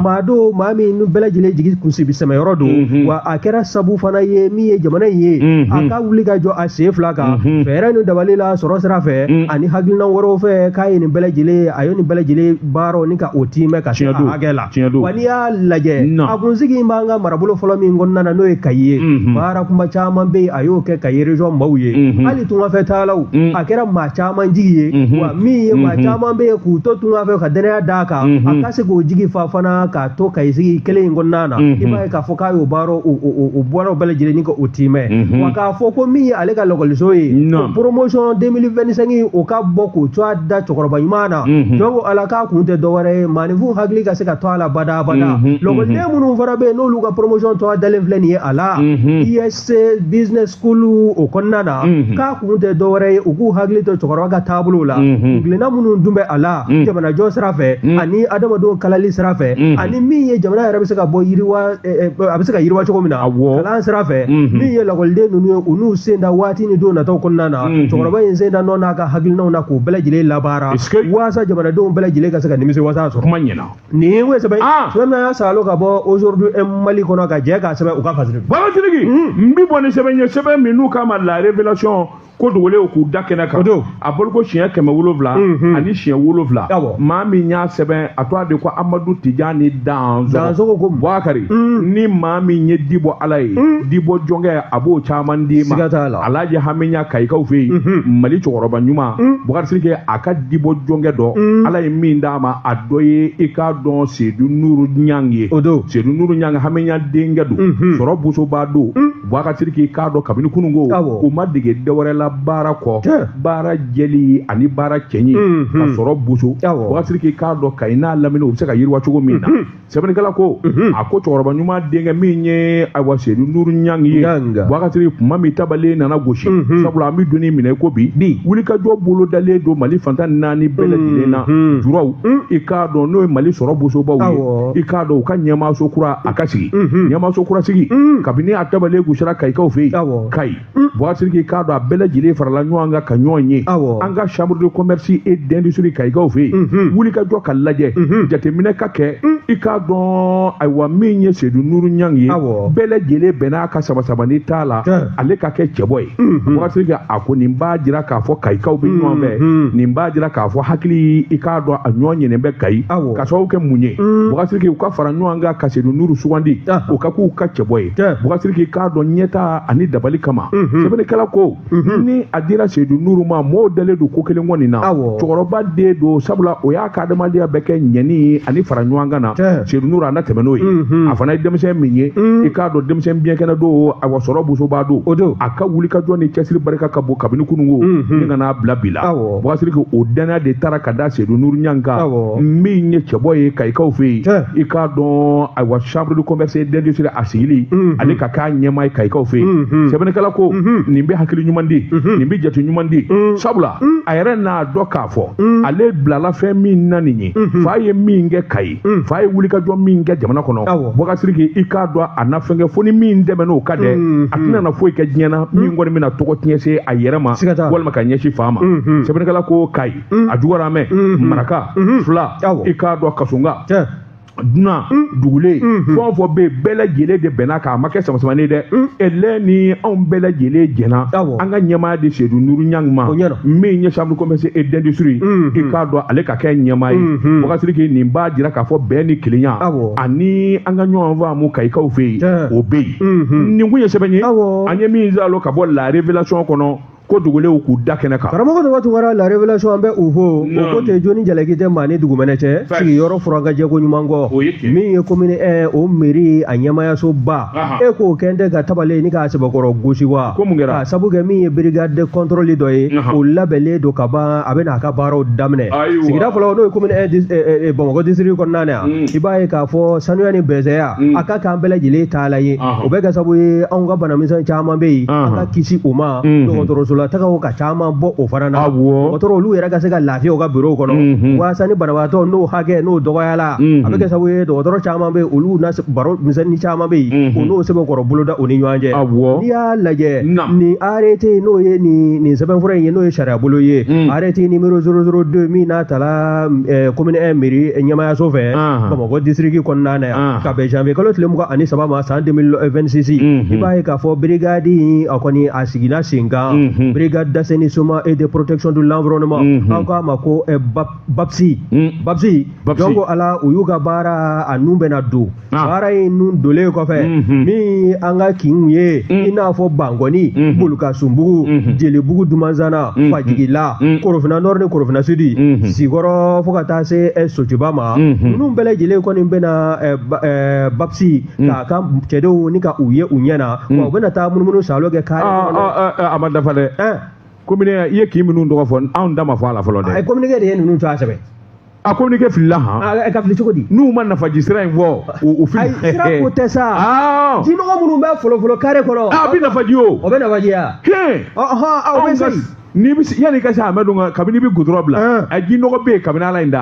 maa don maa min bɛɛ lajɛlen jigi kunsibi sɛmɛyɔrɔ don mhm. wa a kɛra sabu fana ye min ye jamana in ye mhm. a ka wuli ka jɔ a sen fila kan fɛɛrɛ ni dabali la sɔrɔ sira fɛ ani hakilina wɛrɛw fɛ k'a ye nin bɛɛ lajɛlen a ye nin bɛɛ lajɛlen baaraw ni ka o tiimɛ ka se a hakɛ la wa n'i y'a lajɛ a kun sigilen b'an ka marabolo fɔlɔ min kɔnɔna na n'o ye kayi ye mhm. baara kunba caman bɛ yen a y'o kɛ kayi erezɔn maaw ye mhm. hali tungafɛ taalaw mhm. a kɛra maa caman jigi ye wa min ye maa caman bɛ yen k'u to tungafɛ ka dannaya d'a kan a ka se k'o jigi fa fana k'a to kayi sigi kelen in kɔnɔna na i b'a ye k'a fɔ k'a y'o baara o baara bɛɛ lajɛlen ni ka o tiimɛ wa k'a fɔ ko min ye ale ka lakɔliso ye promotion 2025 o ka bɔ k'o tɔgɔ da cɛkɔrɔba ɲuman na jɔn ko ala k'a kun tɛ dɔwɛrɛ ye Maanifinw hakili ka se ka to a la bada bada mhm, mhm. lɔgɔliden minnu fana bɛ yen n'olu ka promotion tɔ dalen filɛ nin ye a la ISC e business school o kɔnɔna na k'a kun tɛ dɔwɛrɛ ye u k'u hakili to cɛkɔrɔba ka taabolow la hakilina minnu tun bɛ a la jamanajɔ sira fɛ ani adamadenw kalali sira fɛ ani min ye jamana yɛrɛ bɛ se ka bɔ yiriwa eh, eh, a bɛ se ka yiriwa cogo min na kalan sira fɛ min ye lakɔliden ninnu ye u n'u sen da waati ni don nataw kɔnɔna na cɛkɔrɔba in sen da nɔ n'a ka hakilinaw na k'u bɛɛ lajɛlen labaara walasasa jamanadenw bɛɛ lajɛlen ka se ka nimisi wasa sɔrɔ kuma ɲɛna nin ye ye sɛbɛn sa ka bɔ aujourd'hui mali kɔnɔ ka jɛ ka sɛbɛn u ka fasiri bamatigi n bɛ bɔ ni sɛbɛn ye sɛbɛn min n'u k'a ma la révélation ko dogolen k'u da kɛnɛ kan a bolo ko siɲɛ kɛmɛ wolowula ani siɲɛ wolowula maa min y'a sɛbɛn a tɔgɔ de ko amadu tijani dansogo ko buwakari ni maa min ye dibɔ ala ye dibɔ jɔnkɛ a b'o caman d'i ma alhaji hamɛ ɲang kayikaw fɛ yen mhm. mali cɛkɔrɔba ɲuman mhm. bukari kɛ a ka dibɔ jɔnkɛ dɔ mhm. ala ye min d'a ma a dɔ ye i k'a dɔn sedu nuru ɲang ye o don sedu nuru ɲang hamɛ ɲang denkɛ don sɔrɔ bosoba don bukari k'i k'a dɔn kabini kununko u ma dege dɔwɛrɛ la baara kɔ baara jɛli ani baara cɛɲi ka sɔrɔ boso bukari k'i k'a dɔn kayi n'a lamini u bɛ se ka yiriwa cogo min na sɛbɛnnikɛla ko a ko cɛkɔrɔba ɲuman denkɛ min ye ayiwa sedu nuru ɲang ye wakati kuma min tabalen nana gosi sabula an bɛ don min na i ko bi bi wulikajɔ bolo dalen don mali fan tan naani bɛɛ lajɛlen na juraw i k'a dɔn n'o ye mali sɔrɔ bosobaw ye i k'a dɔn u ka ɲɛmaaso kura a ka sigi ɲɛmaaso kura sigi kabini a tabalen gosira kayikaw fɛ yen kayi Buwasiriki k'a dɔn a bɛɛ lajɛlen farala ɲɔgɔn kan ka ɲɔgɔn ye an ka chambre de commerce et d'industrie Kayikaw fɛ yen wulikajɔ ka lajɛ jateminɛ ka kɛ i k'a dɔn ayiwa min ye Sedu Nuru Ɲangi ye bɛɛ lajɛlen bɛnna a kan sabasabani t'a la ale ka kɛ cɛbɔ ye Buwasiriki a ko nin b'a jira k'a fɔ Kayikaw bɛ ɲɔgɔn fɛ nin b'a jira k'a fɔ hakili i k'a dɔn a ɲɔgɔn ɲɛnen bɛ Kayi ka sababu kɛ mun ye Buwasiriki u ka fara ɲɔgɔn kan ka Sedu Nuru sugandi o ka k'u ka cɛbɔ ye Buwasiriki k'a dɔn ɲɛtaa ani dabali kama mhm. sɛbɛnnikɛla ko mhm. ni a dira seyidu nuru ma mɔɔw dalen don ko kelen kɔni na cɛkɔrɔba den don sabula o y'a ka adamadenya bɛɛ kɛ ɲɛni ani fara ɲɔgɔn kan na seyidu nuru a na tɛmɛ n'o ye mhm. a fana ye denmisɛn min ye i k'a dɔn denmisɛn biɲɛkɛnɛ don ayiwa sɔrɔ bosoba don a ka wulikajɔ ni cɛsiri barika ka bon kabini kunun kɔni ka n'a bila bi la buwasiriki o dannaya de taara ka da sedu nuru ɲangi kan min ye cɛbɔ ye kayikaw fɛ yen i k'a dɔn ayiwa chambre de commerce et d'industrie a sigili mhm. ani ka k'a ɲɛmaa ye kayikaw fɛ yen mhm. sɛbɛnnikɛla ko mhm. nin bɛ hakili ɲuman di nin bɛ jate ɲuman di sabula a yɛrɛ n'a dɔn k'a fɔ ale bilala fɛn min na nin ye fa ye min kɛ kayi mm. fa ye wulikajɔ min kɛ jamana kɔnɔ buwasiriki i k'a dɔn a na fɛn kɛ fo ni min tɛmɛn'o kan dɛ mm, a tɛna na foyi kɛ diɲɛ na min kɔni bɛna tɔgɔ tiɲɛ se a yɛrɛ ma walima ka ɲɛsin fa ma mm-hmm. sɛbɛnnikɛla ko kayi a jɔgɔramɛ mm-hmm. maraka mm-hmm. fila i k'a dɔn kasonka dunan mm. dugulen mm-hmm. fɛn o fɛn bɛ yen bɛɛ lajɛlen de bɛnna k'a ma kɛ samasamani ye dɛ mm. ɛlɛ ni anw bɛɛ lajɛlen jɛnna an ka ɲɛmaaya di sedu nuru ɲangi ma min ye chambre commerce et d'industrie mm-hmm. i k'a dɔn ale ka kɛ ɲɛmaa ye mhm. buwasiriki nin b'a jira k'a fɔ bɛn ni kelenya ani an ka ɲɔgɔn faamu kayikaw fɛ yen o bɛ yen mhm. nin kun ye sɛbɛn ye an ye min zalo ka bɔ la révélation kɔnɔ ko dogolenw k'u da kɛnɛ kan karamɔgɔ tɔma tunkara la révélation an bɛ o fo o ko tɛ joni jalaki tɛ maa ni dugumɛnɛ cɛ sigiyɔrɔ furankajɛko ɲuman kɔ min ye commune un o mairie a ɲɛmaayasoba e k'o kɛ tɛ ka tabale ni k'a sɛbɛkɔrɔ gosi wa k'a sabu kɛ min ye brigade de contrôle dɔ ye o labɛnnen don ka ban a bɛn'a ka baaraw daminɛ sigida fɔlɔ n'o ye bamakɔ district kɔnɔna na yan i b'a ye k'a fɔ sanuya ni bɛsɛya a ka k'an bɛɛ lajɛlen taalan ye o bɛ kɛ sabu ye anw ka banamisɛn caman bɛ yen an ka kisi o ma dɔgɔtɔrɔsola taga ka caman bɔ o fana na dɔgɔtɔrɔ olu yɛrɛ ka se ka lafiya u ka biro kɔnɔ waasa ni banabagatɔ n'o hakɛ n'o dɔgɔyala a bɛ kɛ sabu ye dɔgɔtɔrɔ caman bɛ olu baro misɛnnin caman bɛ yen o n'o sɛbɛkɔrɔ boloda u ni ɲɔgɔn cɛ n'i y'a lajɛ nin arrêté n'o ye nin sɛbɛnfura in ye n'o ye sariyabolo ye arrêté numéro zéro zéro deux min n'a tala commune un mairie ɲɛmaayaso fɛ bamakɔ district kɔnɔna na yan ka bɛn janvier kalo tile mugan ani saba ma san 2026 i b'a ye k'a fɔ brigade a kɔni a sigila sen kan brigade d'assainissement et de protection de l'environnement an k'a ma ko Babsi, mm. babsi, babsi, jɔn ko ala u y'u ka baara a nun bɛna don ah. baara in nun donlen kɔfɛ mm -hmm. min an ka kinw ye mm. i n'a fɔ bankɔni mm -hmm. bolukasunbugu mm -hmm. jelibugu dumanzana mm -hmm. fajigila mm -hmm. korofina nɔri ni korofina sudi mm -hmm. sikɔrɔ fo ka taa se eh, sotuba ma mm -hmm. ninnu bɛɛ lajɛlen kɔni bɛna eh, eh, babsi mm. k'a ka cɛdenw ni ka u ye u ɲɛ na mm. wa u bɛna taa munumunu salo kɛ k'a ah, ah, ah, ah, a ma dafa dɛ eh. commune i ye kin minnu tɔgɔ fɔ anw ta ma fɔ a la fɔlɔ dɛ. a ye communiqué de ye ninnu tɔgɔ sɛbɛn. a communiqué filila han. a ah, ka fili cogo di. n'u ma nafaji sira in fɔ u fili. ayi sira ko tɛ sa. aa jinɔgɔ minnu bɛ folofolo kare kɔnɔ. a bɛ nafaji o. o bɛ nafaji ya. hɛn. ɔhɔn aw bɛ se. n'i bɛ yanni ka se amadu ka kabini bɛ gudɔrɔn bila ah. a ji nɔgɔ bɛ yen kabini ala ye n da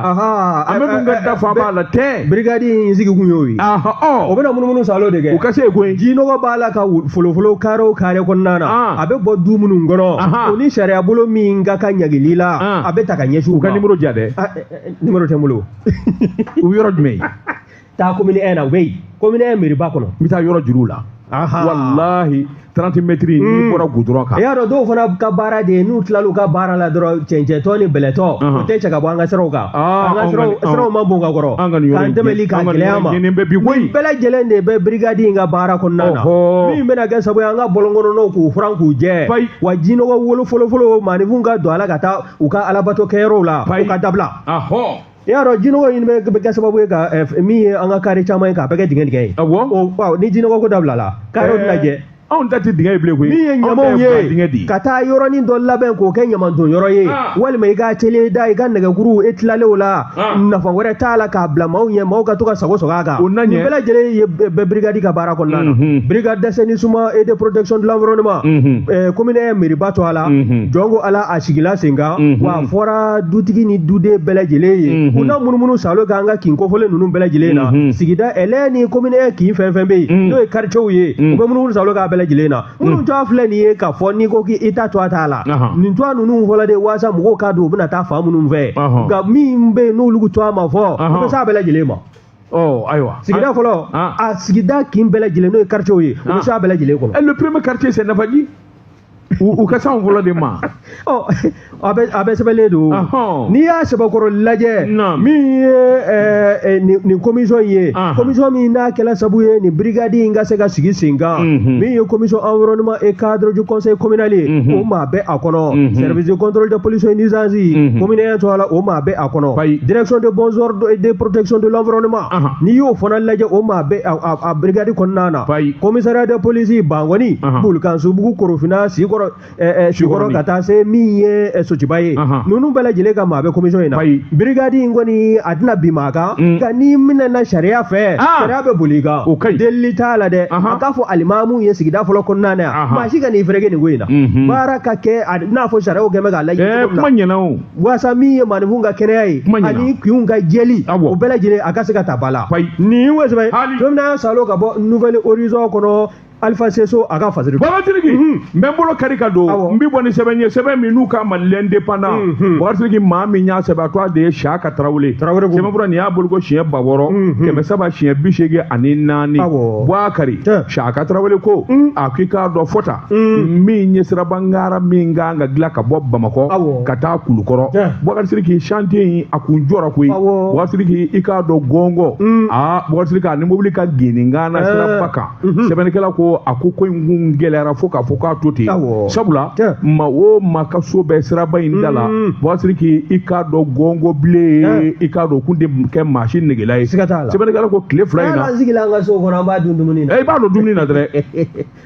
amadu eh, eh, ka eh, da fa b'a la tɛ birikadi in sigi kun y'o ye o bɛna munumunu salo de kɛ u ka se yen koyi ji nɔgɔ b'a la ka folofolo kare o kare kɔnɔna na ah. a bɛ bɔ du minnu kɔnɔ o ni sariya bolo min ka kan ɲangili la a bɛ ta ka ɲɛsin u ka nimɔrɔ ja dɛ nimɔrɔ tɛ n bolo u yɔrɔ jumɛn taa komini ɛn na u bɛ yen komini ɛn meriba kɔnɔ n bɛ taa yɔrɔ jira u la walahi 30 mɛtiri n'i hmm. bɔra gudɔrɔn kan i y'a dɔn dɔw fana ka baara de ye n'u tilal'u ka baara la dɔrɔn cɛncɛntɔ ni bɛlɛtɔ o tɛ cɛ ka bɔ an ka siraw kan siraw ma bon ka kɔrɔ k'an tɛmɛli k'a gɛlɛya an ma nin bɛɛ lajɛlen de bɛ birigadi in ka baara kɔnɔna na min bɛna kɛ sabu ye an ka bɔlɔnkɔnɔnaw k'u furan k'u jɛ wa jinɔgɔ wolo folofolo maaninfinw ka don a la ka taa u ka alabato kɛyɔrɔw la u ka dabila i y'a dɔn jinɔgɔ in bɛ kɛ sababu ye ka min ye an ka kare caman ye k'a bɛɛ kɛ dingɛ dingɛ ye ni jinɔgɔ ko dabilala karew bɛna jɛ anw ta tɛ dingɛ ye bilen koyi min ye ɲamaw ye ka taa yɔrɔnin dɔ labɛn k'o kɛ ɲamanton yɔrɔ ye ah. walima i k'atelier da i ka nɛgɛkuru e tilalen o la ah. nafa wɛrɛ t'a la k'a bila maaw ɲɛ maaw ka to ka sagonsagon a kan o nin bɛɛ lajɛlen de bɛ birigadi ka baara kɔnɔna na mhm. birigadi d'assainissement et de protection de l'environnement mhm. eh, commune ɛn meriba tɔgɔ la mhm. jɔn ko ala a sigila sen kan wa a fɔra dutigi ni duden bɛɛ lajɛlen ye u na munumunu salo k'an ka kin kofɔlen ninnu bɛɛ lajɛlen na sigida ɛlɛ ni commune kin fɛn fɛn bɛ yen n'o ye cɛw ye u bɛ munumunu salo k'a bɛɛ lajɛlen na minnu tɔgɔ filɛ nin ye k'a fɔ n'i ko k'i ta tɔgɔ t'a la nin tɔgɔ ninnu fɔra de waasa mɔgɔw k'a dɔn u bɛna taa fan minnu fɛ nka min bɛ yen n'olu tɔgɔ ma fɔ u bɛ s'a bɛɛ lajɛlen ma ayiwa sigida fɔlɔ a sigida kin bɛɛ lajɛlen n'o ye quartier ye u bɛ s'a bɛɛ lajɛlen kɔnɔ le premier quartier c'est Nafaji u ka s'an fɔlɔ de ma a bɛɛ sɛbɛnlen don n'i y'a sɛbɛkɔrɔ lajɛ min ye nin komisɔn ye komisɔn min n'a kɛla sabu ye nin birikadi in ka se ka sigi sen kan min ye komisɔn environnement et cadre du conseil communal ye o maa bɛ a kɔnɔ service de contrôle de pollution et nuisance commune ɛn tɔgɔ la o maa bɛ a kɔnɔ direction de bon ordre et de protection de l'environnement n'i y'o fana lajɛ o maa bɛ a birikadi kɔnɔna na bayi komisariya de polisi bankɔni Ahan. bulukasunbugu korofina sikɔrɔ ɛɛ ɛɛ sikɔrɔ Sikɔrɔni. ka taa se min ye ɛ, sotuba ye Ahan. ninnu bɛɛ lajɛlen ka maa bɛ komisiyɔn in na Bayi. birigadi in kɔni a tɛna bin maa kan Mm. nka n'i minɛna sariya fɛ Ah. sariya bɛ boli i kan O ka ɲi. delili t'a la dɛ Ahan. a k'a fɔ alimamu ye sigida fɔlɔ kɔnɔna na yan Ahan. maa si kan'i fereke nin ko in na Mhm. baara ka kɛ a n'a fɔ sariyaw kɛn bɛ k'a laɲini Ɛɛ cogo min na. kuma ɲɛna o. waasa min ye maaninfinw ka kɛnɛya ye ani kinw ka jɛli o bɛɛ lajɛlen a ka se ka ta ba la nin ye o sɛbɛn ye don min na salo ka bɔ nouvel horizon kɔnɔ alifa se so a ka fasiri bagasiriki n bɛ bolo kari ka don n bɛ bɔ ni sɛbɛn ye sɛbɛn min n'u k'a ma l'indépendant bagasiriki maa min y'a sɛbɛn a tɔgɔ de ye siyaka tarawele tarawele ko sɛbɛnfura nin y'a boloko siɲɛ ba wɔɔrɔ kɛmɛ saba siɲɛ bi seegin ani naani buwakari siyaka tarawele ko a k'i k'a dɔn fɔta Mm. min ye sirabangara min kan ka dilan ka bɔ bamakɔ ka taa kulukɔrɔ bagasiriki chantier in a kun jɔra koyi bagasiriki i k'a dɔn gɔngɔ mm. aa bagasiriki ani mobili ka geninkan na eh. siraba kan mm-hmm. sɛbɛnnikɛla ko a ko ko in kun gɛlɛyara fo k'a fɔ k'a to ten sabula maa o maa ka so bɛ siraba in da la mm. bagasiriki i k'a dɔn gɔngɔ bilen i k'a dɔn kun tɛ kɛ maa si negela ye sɛbɛnnikɛla ko tile fila in na sigi la an ka so kɔnɔ an b'a dun dumuni na i b'a dun dumuni na dɛrɛ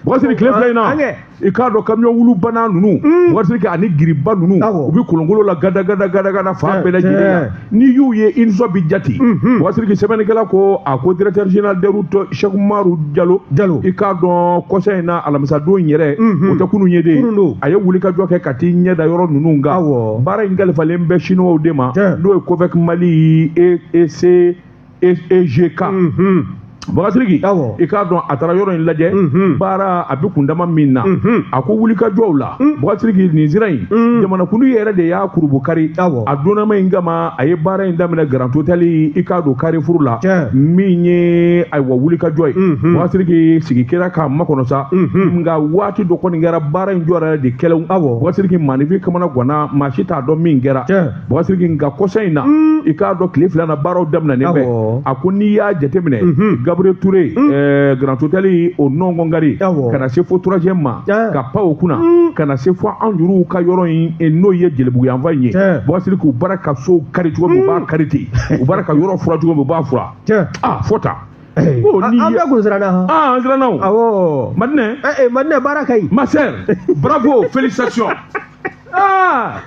Bagasiriki tile fila in na i k'a dɔn kamiɔn wulu banna ninnu mm. bagasiriki ani giriba ninnu u bɛ kolonkolon la gada gada gada gada fan bɛɛ lajɛlen n'i y'u ye i nisɔn bɛ diya dɛ mm-hmm. bagasiriki sɛbɛnnikɛla ko a ko directeur général des routes sɛki umaru jalo jalo i k'a dɔn kɔsa in na alamisadon yɛrɛ mm-hmm. o tɛ kunun ye dɛ a ye wulikajɔ kɛ ka t'i ɲɛ da yɔrɔ ninnu kan baara in kalifalen bɛ siniwaw de ma n'o ye COVEC mali ese EGK bagasiriki i k'a dɔn a taara yɔrɔ in lajɛ baara a bɛ kundama min na a ko wulikajɔw la bagasiriki nin sira in jamanakuntigi yɛrɛ de y'a kurunbonkari a donnama in kama a ye baara in daminɛ grand hôtel i k'a dɔn karifuru la min ye ayiwa wulikajɔ ye bagasiriki sigi kɛra k'a makɔnɔ sa nka waati dɔ kɔni kɛra baara in jɔ yɛrɛ de kɛlɛ aw bagasiriki maaninfin kamanaganna maa si t'a dɔn min kɛra Bagasiriki nka kɔsa in na i k'a dɔn tile fila na baaraw daminɛnen bɛ a ko n'i y'a jateminɛ gabriel touré grand hôtel o nɔngɔnkari ka na se fo troisième ma ka pan o kunna ka na se fo an yɛrɛw ka yɔrɔ in n'o ye jelibugu yanfan in ye bagasiriki k'u baara ka so kari cogo u b'a kari ten u baara ka yɔrɔ fura cogo u b'a fura fɔta an bɛɛ kun siranna an siranna o madinɛ baara ka ɲi ma sœur bravo félicitations Ah!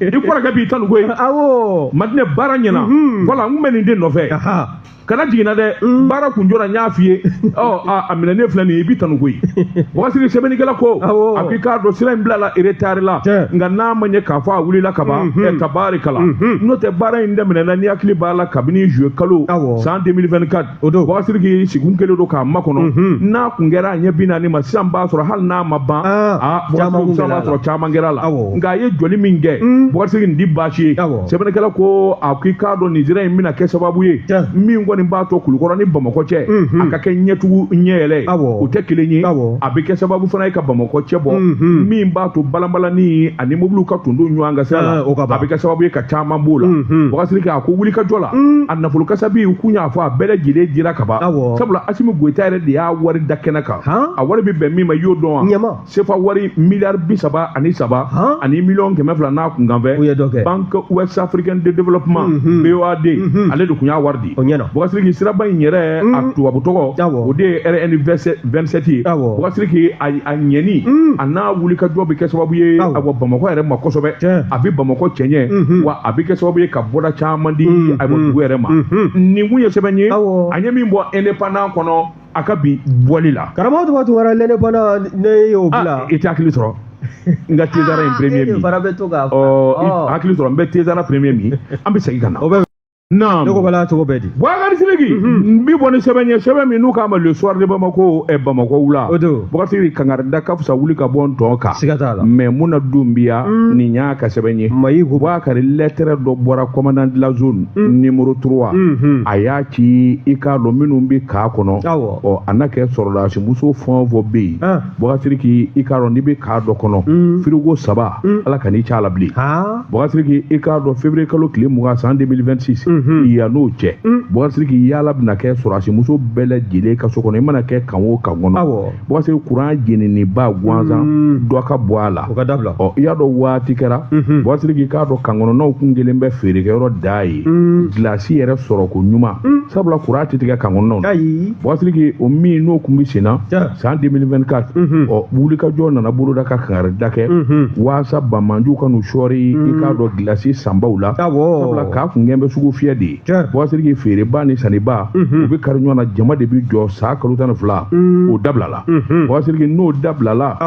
i kɔrɔkɛ b'i tanu koyi awɔ madinɛ baara ɲɛna mhm. wala n kun bɛ nin de nɔfɛ kana jiginna dɛ mm. baara kun jɔra n y'a f'i ye a minɛnen filɛ nin ye i b'i tanu koyi bagasiriki sɛbɛnnikɛla ko a k'i k'a dɔn sira in bilala eretari la nka n'a ma ɲɛ k'a fɔ a wulila kaban mhm. tabarikala mhm. n'o tɛ baara in daminɛna n'i hakili b'a la kabini zuye kalo san 2024 o don Bukari Sidiki sigi kun kɛlen don k'a makɔnɔ n'a kun kɛra a ɲɛ bi naani ma sisan b'a sɔrɔ hali n'a ma ban aa b'a sɔrɔ caman kɛra a la nka a ye jɔli min kɛ Bukari Sidiki nin tɛ baasi ye sɛbɛnnikɛla ko a k'i k'a dɔn nin sira in bɛna kɛ sababu ye min kɔni b'a to kulukɔrɔ ni bamakɔ cɛ a ka kɛ ɲɛtugu ɲɛyɛlɛ ye o tɛ kelen ye a bɛ kɛ sababu fana ye ka bamakɔ cɛ bɔ min b'a to balanbalani ani mobiliw ka tonton ɲɔgɔn kan sira la a bɛ kɛ sababu ye ka caman b'o la Bukari Sidiki a ko wulikajɔ la nafolo kasabi u kun y'a fɔ a bɛɛ lajɛlen dira ka ban Awɔ. sabula asimi goyita yɛrɛ de y'a wari da kɛnɛ kan Han? a wari bɛ bɛn min ma i y'o dɔn wa Ɲɛma. sefa wari miliyari bi saba ani saba Han? ani miliyɔn kɛmɛ fila n'a kunkanfɛn U ye dɔ kɛ. banque ouest africaine de développement Mhm. BOAD Mhm. ale de kun y'a wari di O ɲɛna. Bukari Sidiki siraba in yɛrɛ a Mm. tubabu tɔgɔ Awɔ. o de ye rn 27 ye Awɔ. Bukari Sidiki a a ɲɛni Mm. a n'a wulikajɔ bɛ kɛ sababu ye Awɔ. awɔ bamakɔ yɛrɛ ma kosɛbɛ Tiɲɛ. a bɛ bamakɔ cɛɲɛ Mhm. wa a bɛ kɛ sababu ye ka bɔda caman di mm-hmm. awɔ dugu yɛrɛ ma mm-hmm. nin kun ye sɛbɛn ye a ye min bɔ indépendant kɔnɔ a ka bi bɔli la karamɔgɔ tɔgɔ tun wɛrɛ l'indépendant ne y'o bila ah, i tɛ hakili sɔrɔ n ka tezara in ah, premier min ɔ hakili sɔrɔ n bɛ tezara premier min an bɛ segin ka na o bɛ naamu ne ko bala cogo bɛ di Bukari Sidiki n b'i bɔ ni sɛbɛn ye sɛbɛn min n'u k'a ma le soir de Bamako ɛ Bamakɔ wula o don Bukari Sidiki kangarida ka fisa wuli ka bɔ n tɔn kan siga t'a la mais mun na dun bi ya nin y'a ka sɛbɛn ye mayi ko Bukari lettre dɔ bɔra commandant de la zone numéro 3 a y'a ci i k'a dɔn minnu bɛ kan kɔnɔ awɔ ɔ a na kɛ sɔrɔdasi muso fɛn o fɛn bɛ yen Bukari Sidiki i k'a dɔn n'i bɛ kan dɔ kɔnɔ frigo saba ala kan'i c'a la bilen Bukari Sidiki i k'a dɔn février kalo tile mugan san deux mille vingt-six yan n'o cɛ Bukari Sidiki yaala bɛna kɛ sɔrɔdasimuso bɛɛ lajɛlen ka so kɔnɔ i mana kɛ kan o kan kɔnɔ Bukari Sidiki kuran jeniniba gansan dɔ ka bɔ a la ka da i y'a dɔn waati kɛra Bukari Sidiki i k'a dɔn kan kɔnɔnaw kun kɛlen bɛ feerekɛyɔrɔ dan ye gilasi yɛrɛ sɔrɔ ko ɲuman sabula kuran tɛ tigɛ kan kɔnɔnaw Bukari Sidiki o min n'o kun bɛ senna san deux mille vingt-quatre ɔ wulikajɔ nana boloda ka kangarida kɛ walasa banbaanciw kan'u sɔɔri i k'a dɔn gilasi sanbaw la kan kun kɛlen bɛ sugufiyɛ de ye Bukari Sidiki feereba ni sanniba u bɛ kari ɲɔgɔn na jama de bɛ jɔ san kalo tan ni fila o dabilala Bukari Sidiki n'o dabilala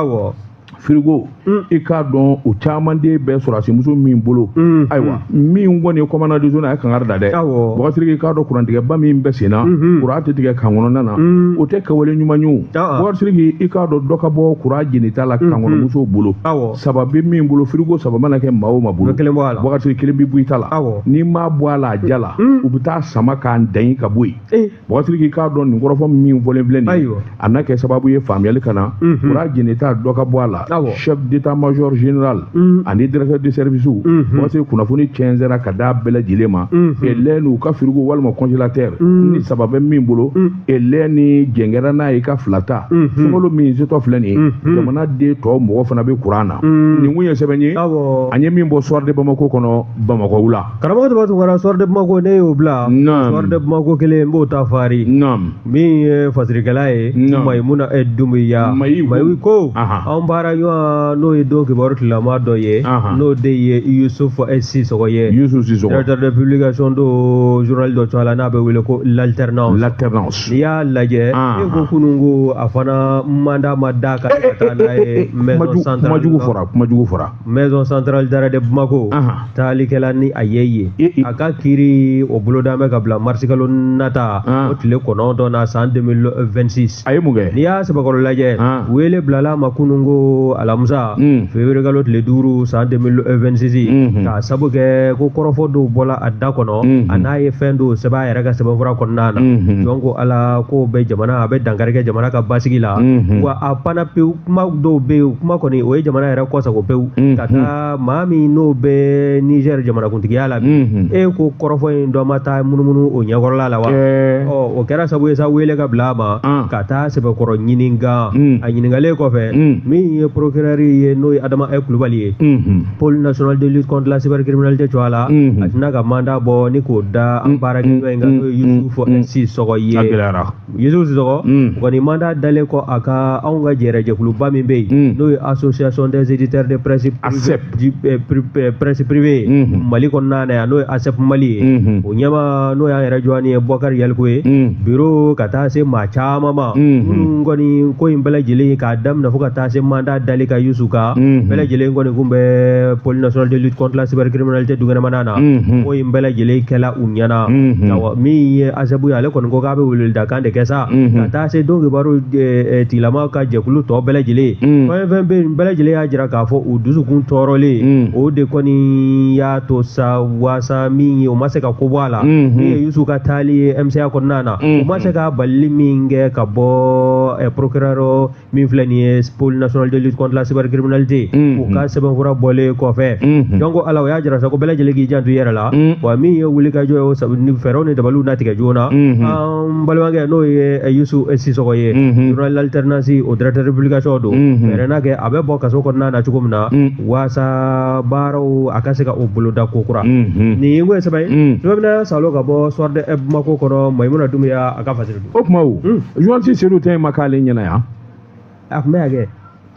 firigo mm. i k'a dɔn o caman de bɛ sɔrɔdasi muso min bolo mm, ayiwa mm. min kɔni ye commandant de zone a ye kangari da dɛ Bukari Sidiki i k'a dɔn kurantigɛba min bɛ senna mm-hmm. kuran tɛ tigɛ kan kɔnɔna na o tɛ kɛwale ɲuman ye o Bukari Sidiki i k'a dɔn dɔ ka bɔ kuran jenita la mm-hmm. kan kɔnɔ musow bolo saba bɛ min bolo firigo saba mana kɛ maa o maa bolo Bukari Sidiki kelen bɛ bɔ i ta la n'i m'a bɔ a la a diya la u bɛ taa a sama k'a dan ka bɔ yen eh. mɔgɔtigi k'i k'a dɔn nin kɔrɔfɔ min fɔlen filɛ nin ye a na kɛ sababu ye faamuyali ka na kuran jenita dɔ ka bɔ a la chef d'état major général ani directeur de service mɔgɔtigi kunnafoni cɛnsɛra ka d'a bɛɛ lajɛlen ma elɛn n'u ka firigo walima congélateur ni saba bɛ min bolo elɛn ni jɛn kɛra n'a ye ka fila ta sunkalo min setɔ filɛ nin ye jamana den tɔw mako fana bɛ kuran na nin kun ye sɛbɛn ye an ye min bɔ soir de bamako kɔnɔ bamakɔ wula karamɔgɔ tɔgɔ tun kɛra soir de bamako ne y'o bila soir de bamako kelen n b'o ta fari min ye fasirikɛla ye mayimuna e dunbiya mayi ko anw baara ɲɔgɔn n'o ye don kibaru tilama dɔ ye n'o de ye yusufu e sisɔgɔ ye directeur de publication don journal dɔ tɔgɔ la n'a bɛ wele ko l'alternance l'alternance n'i y'a lajɛ e ko kunun ko a fana mandat ma da ka taa n'a ye maison centrale kuma jugu fɔra kuma jugu fɔra maison centrale d'arrêt de Bamako taalikɛla ni a ye ye a ka kiri o boloda bɛ ka bila marisikalo nata o tile kɔnɔntɔn na san 2026 a ye mun kɛ n'i y'a sɛbɛkɔrɔ lajɛ wele bilala ma kunun ko alamisa hmm. février kalo tile duuru san 2026 hmm. k'a sabu kɛ ko kɔrɔfɔ dɔw bɔla a da kɔnɔ hmm. a n'a ye fɛn dɔw sɛbɛn a yɛrɛ ka sɛbɛnfura kɔnɔna na donc a la k'o bɛ jamana a bɛ dankari kɛ jamana ka basigi la wa a panna pewu kuma dɔw bɛ yen kuma kɔni o ye jamana yɛrɛ kɔsagon pewu mm-hmm. ka taa maa min n'o bɛ nizɛri jamanakuntigiya la bi mm-hmm. e ko kɔrɔfɔ in dɔ ma taa munumunu o ɲɛkɔrɔla la wa eh. ɔ o kɛra sabu ye sa wele ka bila a ma ah. ka taa sɛbɛkɔrɔ ɲininka mm. a ɲininkalen kɔfɛ mm. min ye porokirɛri ye n'o ye adama ɛ kulubali ye mm-hmm. pôle national de lutte contre la cybercriminalité tɔgɔ la a tilenna ka mandat bɔ ni k'o da an baarakɛɲɔgɔn in kan n'o ye yusufu ɛ sisɔgɔ ye Yusu Sisɔgɔ mm. kɔni mandat dalen kɔ a ka anw ka jɛrɛjɛkuluba min bɛ yen mm. n'o ye association des éditeurs de presse eh, presse privée mm-hmm. mali kɔnɔna na yan n'o ye ASEP Mali ye mm-hmm. o ɲɛmaa n'o y'an yɛrɛ jɔni ye Bɔkari Yalikuye mm. biro ka taa se maa caman ma mm-hmm. minnu kɔni ko in bɛɛ lajɛlen k'a daminɛ fo ka taa se mandat dalen ka Yusu kan bɛɛ lajɛlen kɔni kun bɛ pôle national de lutte contre la cybercriminalité dukɛnɛmana na ko in bɛɛ lajɛlen kɛla u ɲɛna min ye ASEP ye ale kɔni ko k'a bɛ weleweledakan de kɛ sa ka taa se don kibaru tigilama ka jɛkulu tɔ bɛɛ lajɛlen fɛn fɛn bɛ yen bɛɛ lajɛlen y'a jira k'a fɔ u dusukun tɔɔrɔlen o de kɔni y'a to sa waasa min ye o ma se ka ko bɔ a la min ye yusu ka taali ye MCA kɔnɔna na u ma se ka balili min kɛ ka bɔ porokr min filɛ nin ye pôle national de lutte contre la cybercriminalité mm-hmm. u ka sɛbɛnfura bɔlen kɔfɛ mm-hmm. donc ala o y'a jira sa ko bɛɛ lajɛlen k'i janto i yɛrɛ la mm-hmm. wa min ye wuli ka jɔ ye fɛɛrɛw ni dabaliw na tigɛ joona an balimakɛ n'o ye eh, yusu eh, sisɔgɔ ye journal alternance o directeur de publication don fɛɛrɛ na kɛ a bɛ bɔ kaso kɔnɔna na cogo min na waasa baaraw a ka se ka o boloda ko kura nin ye ko ye sɛbɛn ye sɛbɛn bɛna salo ka bɔ soir de bamako kɔnɔ mayimuna dumbuya a ka fasiri o tuma o journaliste Sedu ta ma k'ale ɲɛna yan a tun bɛ yan kɛ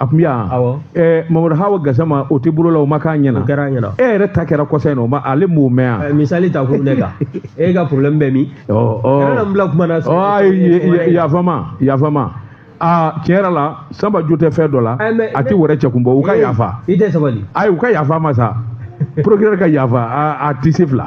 a tun bɛ yan Awɔ. ɛɛ Mamadu Hawa Gasama o tɛ bolo la o ma k'a ɲɛna o kɛra an ɲɛna e yɛrɛ ta kɛra kɔsa in na o ma ale m'o mɛn yan Ɛ, misali ta kun ne kan e ka problème bɛ min ɔ ɔ kana na n bila kuma na ɔ ayi yafama yafama aa tiɲɛ yɛrɛ la sanba jo tɛ fɛn dɔ la Ɛ, mais- a tɛ wɛrɛ cɛ kun bɔ u ka yafa i tɛ sabali ayi u ka yafa a ma sa procureur ka yafa a a tɛ se fila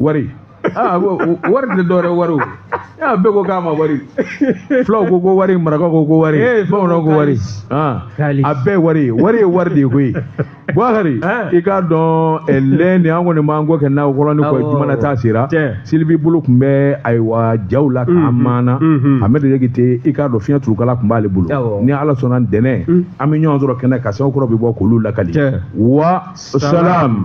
wari aa ko o- wari tɛ dɔwɛrɛ ye, wari o. aa bɛɛ ko k'a ma wari fulaw ko ko wari marakaw ko ko wari Eh, fulaw bamananw ko ko wari kalis. Ah, Kalis. a bɛɛ ye wari ye wari ye wari de ye koyi buhari Ah. i k'a dɔn eh, lɛn de an kɔni b'an kɔ kɛ n'a kɔlɔn ni kɔ Awɔ. jumana ta sera Tiɲɛ. silibi bolo tun bɛ ayiwa jaw la kamera na mhm. amɛdi jakite i k'a dɔn fiɲɛ turukala tun b'ale bolo Awɔ. ni ala sɔnna ntɛnɛn an bɛ ɲɔgɔn sɔrɔ kɛnɛ kan sɛbɛn kura bɛ bɔ k'olu lakali Tiɲɛ. wa salam